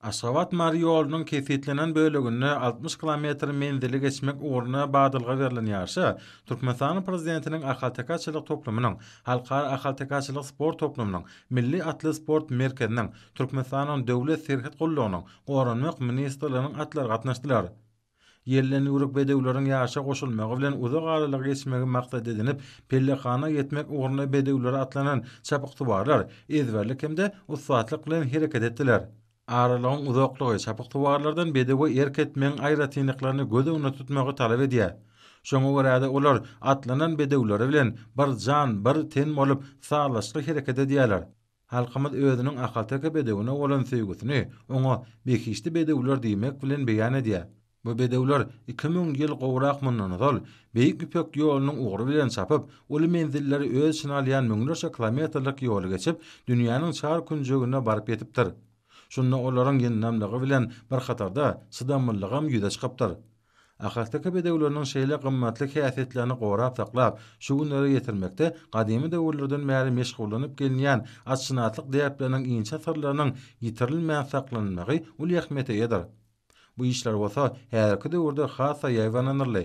Aşgabat, Mary ýolunyň kesgitlenen böleginde altmyş kilometr menzili geçmek ugrunda badalga berlen ýaryşa Türkmenistanyň Prezidentiniň Ahaltekaçylyk toplumynyň, Halkara ahaltekaçylyk sport toplumynyň, Milli atly sport merkeziniň, Türkmenistanyň Döwlet serhet gullugynyň, Goranmak ministrliginiň atlary gatnaşdylar. Ýelden ýüwrük bedewleriň ýaşa goşulmagy bilen uzak aralygy geçmegi maksat edinip, pellehana ýetmek ugrunda bedewlere atlanan çapyksuwarlar ezberlik hem-de ussatlyk bilen hereket etdiler. Aralygyň uzaklygy çapyksuwarlardan bedewe erk etmegiň aýratynlyklaryny göz öňünde tutmagy talap edýär. Şoňa görä-de, olar atlanan bedewleri bilen bir jan, bir ten bolup, sazlaşykly hereket edýärler. Halkymyz özüniň ahalteke bedewine bolan söýgüsini oňa behişdi bedewler diýmek bilen beýan edýär. Bu bedewler iki müň ýyl gowrak mundan ozal, Beýik Ýüpek ýolunyň ugry bilen çapyp, uly menzilleri öz içine alýan müňlerçe kilometrlik ýoly geçip, dünýäniň çar künjegine baryp ýetipdir. Şunda olaryň ýyndamlygy bilen bir hatarda çydamlylygam ýüze çykypdyr. Ahasaka bedewleriniň şeýle gymmatly häsiýetlerini gorap saklap, şu günlere ýetirmekde gadymy döwürlerden bäri meşgullanyp gelinýän atşynaslyk däpleriniň inçe syrlarynyň ýitirilmän saklanylmagy uly ähmiýete eýedir. Bu işler bolsa häzirki döwürde has-da ýaýbaňlanyldy.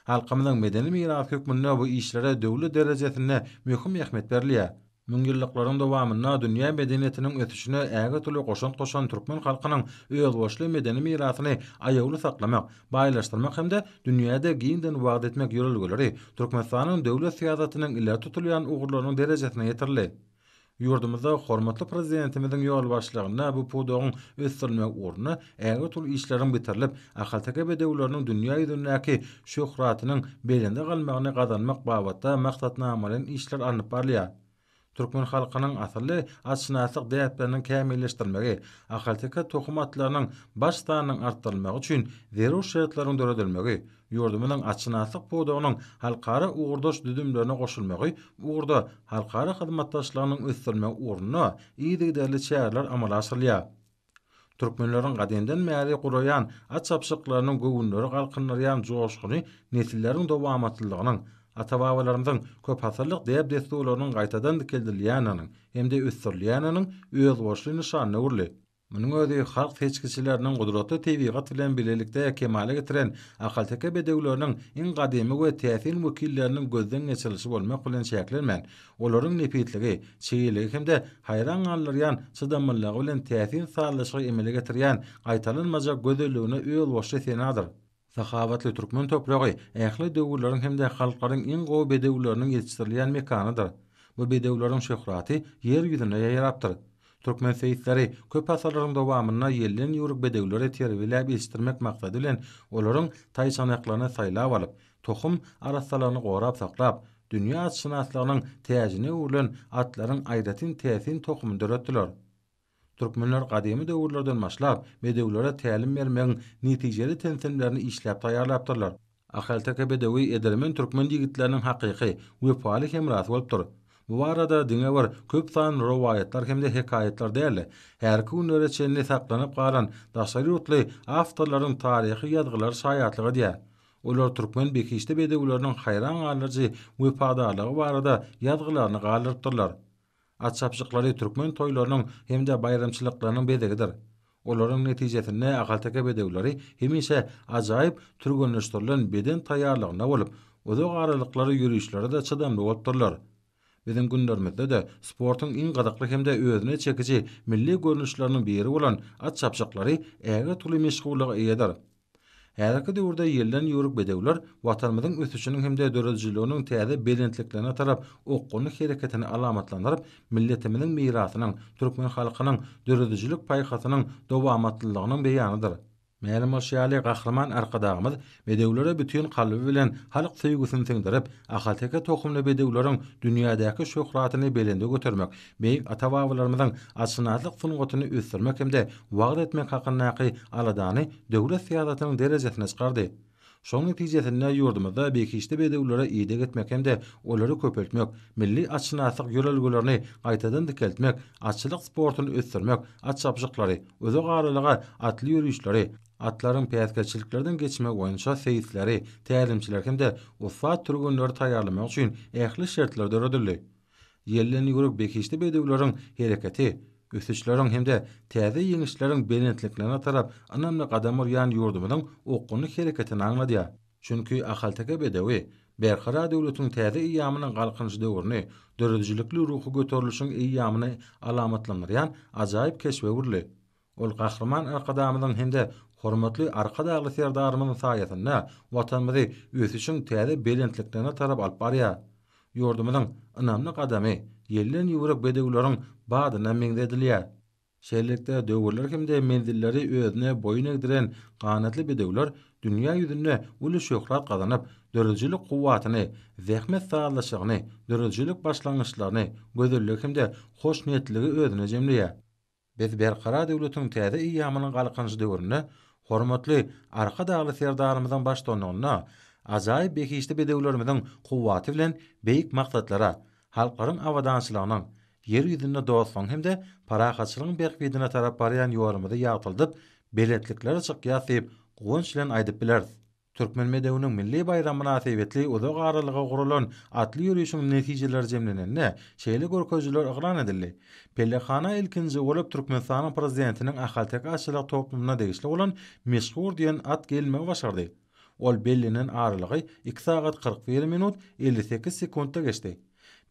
Halkymyzyň medeni mirasy hökmünde bu işlere döwlet derejesinde möhüm ähmiýet berilýär. Müňýyllyklaryň dowamynda dünýä medeniýetiniň ösüşine ägirt uly goşant goşan türkmen halkynyň özboluşly medeni mirasyny aýawly saklamak, baýlaşdyrmak hem-de dünýäde giňden wagyz etmek ýörelgeleri Türkmenistanyň döwlet syýasatynyň ileri tutulýan ugurlarynyň derejesine ýetirildi. Ýurdumyzda hormatly Prezidentimiziň ýolbaşçylygynda bu pudagyň ösdürilmegi ugrunda ägirt uly işleriň bitirilip, ahalteke bedewleriniň dünýä ýüzündäki şöhratynyň belende galmagyny gazanmak babatda maksatnamalaýyn işler alnyp barylýar. Türkmen halkynyň asylly atşynaslyk däpleriniň kämilleşdirilmegi, ahalteke tohum atlarynyň baş sanynyň artdyrylmagy üçin zerur şertleriň döredilmegi, ýurdumyzyň atşynaslyk pudagynyň halkara ugurdaş düzümlerine goşulmagy bu ugurda halkara hyzmatdaşlygynyň ösdürilmegi ugrunda yzygiderli çäreler amala aşyrylýar. Türkmenleriň gadymdan bäri guraýan at çapyşyklarynyň göwünleri galkyndyrýan joşguny nesilleriň dowamatlylygynyň, ata-babalarymyzyň köpasyrlyk däp-dessurlarynyň gaýtadan dikeldilýändiginiň hem-de ösdürilýändiginiň özboluşly nyşanyna öwrüldi. Munuň özi halk seçgiçileriniň gudratly tebigat bilen bilelikde kemala getiren ahalteke bedewleriniň iň gadymy we täsin wekilleriniň gözden geçirilişi bolmak bilen çäklenmän, Olaryň nepisligi, çeýeligi hem-de haýran galdyrýan çydamlylygy bilen täsin sazlaşygy emele getirýän gaýtalanmajak gözelligine özbaşy senadyr. Sahawatly türkmen topragy ähli döwürleriň hem-de halklaryň iň gowy bedewleriniň ýetişdirilýän mekanydyr. Bu bedewleriň şöhraty Ýer ýüzüne ýaýrapdyr. Türkmen seýisleri köp asyrlaryň dowamynda ýelden ýüwrük bedewleri terbiýeläp ýetişdirmek maksady bilen olaryň taýçanaklaryny saýlap alyp, tohum arassalaryny gorap saklap, dünýä atşynaslygynyň täjine öwrülen atlaryň aýratyn täsin tohumyny döretdiler. Türkmenler gadymy döwürlerden başlap bedewlere tälim bermegiň netijeli tentemlerini işläp taýýarlapdyrlar. Ahalteke bedewi edermen türkmen ýigitleriniň hakyky, wepaly hemrasy bolupdyr. Bu barada diňe bir köp sanly rowaýatlar hem-de hekaýatlar däl-de, härki günlere çenli saklanyp galan daşary ýurtly awtorlaryň taryhy ýazgylary şaýatlyk edýär. Olar türkmen behişdi bedewleriniň haýran galyjy wepadarlygy barada ýazgylaryny galdyrypdyrlar. At çapjyklary türkmen toýlarynyň hem-de baýramçylyklarynyň bezegidir. Olaryň netijesinde ahalteke bedewleri hemişe ajaýyp türgenleşdirilen beden taýýarlygynda bolup, uzak aralyklary ýörişlere-de çydamly bolupdyrlar. Biziň günlerimizde-de sportuň iň gyzykly hem-de özüne çekiji milli görnüşleriniň biri bolan at çapjyklary ägirt uly meşhurlyga eýedir. Häzirki döwürde ýelden ýüwrük bedewler Watanymyzyň ösüşiniň hem-de döredijiliginiň täze belentliklerine tarap okgunly hereketini alamatlandyryp, milletimiziň mirasynyň, türkmen halkynyň döredijilik paýhasynyň dowamatlylygynyň beýanydyr. Mälim bolşy ýaly, Gahryman Arkadagymyz bedewlere bütin kalby bilen halk söýgüsini siňdirip, ahalteke tohumly bedewleriň dünýädäki şöhratyny belende götermek, beýik ata-babalarymyzyň atşynaslyk sungatyny ösdürmek hem-de wagyz etmek hakyndaky aladany döwlet syýasatynyň derejesine çykardy. Şonuň netijesinde ýurdumyzda behişdi bedewlere ideg etmek hem-de olary köpeltmek, milli atşynaslyk ýörelgelerini gaýtadan dikeltmek, atçylyk sportuny ösdürmek, at çapyşyklary, uzak aralyga atly ýörişleri, atlaryň päsgelçiliklerden geçmegi boýunça seýisleri, tälimçileri hem-de ussat türgenleri taýýarlamak üçin ähli şertler döredildi. Ýelden ýüwrük behişdi bedewleriň hereketi, ösüşleriň hem-de täze ýeňişleriň belentliklerine tarap ynamly gadam urýan ýurdumyzyň okgunly hereketini aňladýar. Çünki ahalteke bedewi Berkarar döwletiň täze eýýamynyň Galkynyş döwrüni, döredijilikli ruhy göterilişiň eýýamyny alamatlandyrýan ajaýyp keşbe öwrüldi. Ol Gahryman Arkadagymyzyň hem-de hormatly Arkadagly Serdarymyzyň saýasynda Watanymyzy ösüşiň täze belentliklerine tarap alyp barýar. Ýurdumyzyň ynamly gadamy ýelden ýüwrük bedewleriň badyna meňzedilýär. Şeýlelikde, döwürleri hem-de menzilleri özüne boýun egdiren ganatly bedewler dünýä ýüzünde uly şöhrat gazanyp, döredijilik kuwwatyny, zähmet sazlaşygyny, döredijilik başlangyçlaryny, gözelligi hem-de hoşniýetliligi özünde jemleýär. Biz Berkarar döwletiň täze eýýamynyň Galkynyş döwründe hormatly Arkadagly Serdarymyzyň baştutanlygynda ajaýyp behişdi bedewlerimiziň kuwwaty bilen beýik maksatlara, halklaryň abadançylygynyň, Ýer ýüzünde dostlugyň hem-de parahatçylygyň bähbidine tarap barýan ýolumyzy ýagtyldyp, belentliklere çykýas diýip, guwanç bilen aýdyp bileris. Türkmen bedewiniň milli baýramy mynasybetli uzak aralyga guralan atly ýörişiň netijeleri jemlenende, şeýle görkezijiler yglan edildi. Pellehana ilkinji bolup Türkmenistanyň Prezidentiniň ahalteke atçylyk toplumyna degişli bolan Meşhur diýen at gelmegi başardy. Ol bellenen aralygy iki sagat kyrk bir minut, elli sekiz sekuntda geçdi.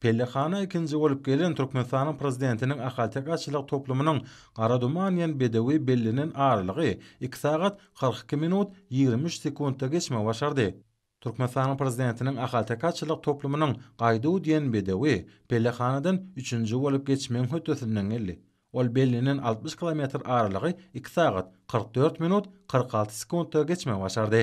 Pellehana ikinji bolup gelen Türkmenistanyň Prezidentiniň Ahalteke atçylyk toplumynyň Gara duman diýen bedewi bellenen aralygy iki sagat, kyrk iki minut, ýigrimi üç sekuntda geçmegi başardy. Türkmenistanyň Prezidentiniň Ahalteke atçylyk toplumynyň Gaýduw diýen bedewi pellehanadan üçünji bolup geçmegiň hötdesinden geldi. Ol bellenen altmyş kilometr aralygy iki sagat, kyrk dört minut, kyrk alty sekuntda geçmegi başardy.